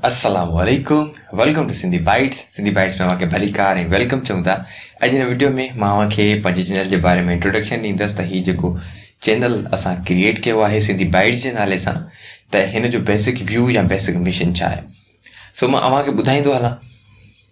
السلام عليڪم welcome to Sindhi bites Sindhi bites ۾ اوهان کي ڀليڪار ۽ ويلڪم چئون ٿا اڄ هن وڊيو ۾ مان اوهان کي پنهنجي چينل جي باري ۾ انٽروڊڪشن ڏيندس ته هي جيڪو چينل اسان ڪريئيٽ ڪيو آهي سنڌي بائيٽس جي نالي سان ته هن جو بيسڪ ويو يا بيسڪ مشن ڇا آهي سو مان اوهان کي ٻڌائيندو هلان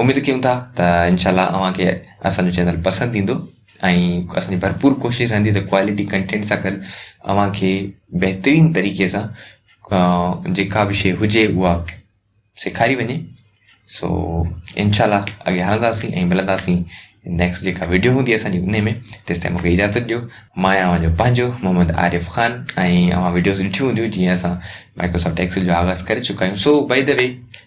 اميد ڪيون ٿا ته انشاء الله اوهان کي اسان جو چينل پسند ايندو ۽ اسان جي ڀرپور ڪوشش رهندي ته ڪوالٽي ڪنٽينٽ سان گڏ اوهان کي بهترين طريقي سان جيڪا به شيء هجي اها سيکاري وڃي سو انشاء الله اڳي هلنداسين ۽ ملنداسين نيڪسٽ جيڪا ويڊيو هوندي اسانجي ان ۾ تيسي تائين مونکي اجازت ڏيو مان آهيان اوهان جو پنهنجو محمد عارف خان ۽ اوهان ويڊيوز ڏٺيون هونديون جيئن اسان مائڪروسافٽ ايڪسل جو آغاز ڪري چڪا آهيون سو باء دي وي